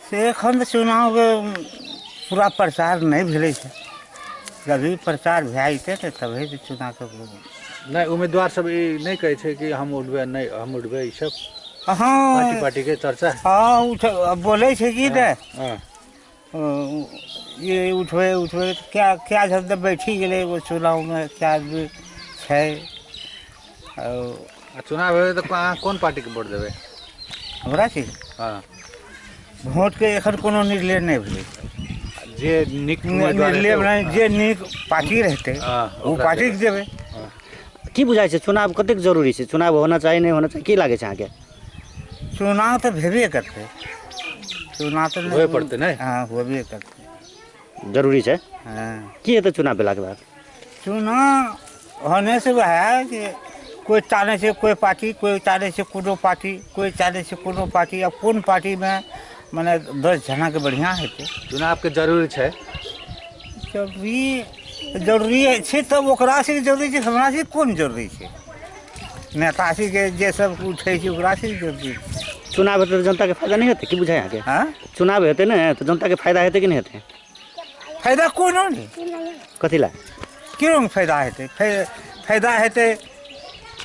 से एखन तऽ चुनावके पूरा प्रचार नहि भेलै छै जभी प्रचार भए जेतै तऽ तभी तऽ चुनावके नहि उम्मीदवार सब ई नहि कहै छै कि हम उठबै नहि हम उठबै ई सब पार्टी हँ पार्टीके चर्चा हँ उठ बोलै छै कि ने हँ ओ, ये उठबै उठबै तऽ क्या क्या झन तऽ बैठी गेलै एगो चुनावमे क्या आदमी छै आओर आ चुनाव होय तऽ अहाँ कोन पार्टीके वोट देबै हमरा छी हँ वोटके एखन कोनो निर्णय नहि भेलै जे नीक उम्मीदवार निर्णय हेतै, नहि जे नीक पार्टी रहतै हँ, ओ ओकरा पार्टीके देबै की बुझाइ छै चुनाव कतेक जरूरी छै चुनाव होना चाही नहि होना चाही की लागै छै अहाँके चुनाव तऽ भेबे करतै चुनाव तऽ नहि- होए पड़तै, नहि? हँ होबे करतै जरूरी छै हँ की हेतै चुनाव भेलाके बाद चुनाव होने से वएह जे कोइ टानै छै कोइ पार्टी कोइ टानै छै कोनो पार्टी कोइ टानै छै कोनो पार्टी आब कोन पार्टीमे मने दस जनाके बढ़िआँ हेतै चुनावके जरूरी छै जरूरी जरूरी छै तब ओकरा से जरूरी छै हमरा से कोन जरूरी छै नेता से जे जे सब उठै छै ओकरा से जरूरी छै चुनाव हेतै तऽ जनताके फायदा नहि हेतै की बुझाइ अहाँके हँ चुनाव हेतै ने तऽ जनताके फायदा हेतै कि नहि हेतै फायदा कोनो नहि कथी लए की रङ्ग फायदा हेतै फै- फायदा हेतै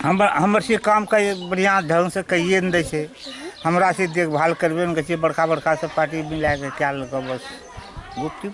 हमर हमर से काम कै बढ़िआँ ढङ्गसँ कहिए नहि दै छै हमरा से देखभाल करबे नहि करै छै बड़का बड़का सब पार्टी मिलाके कए लेलकै बस गुपचुप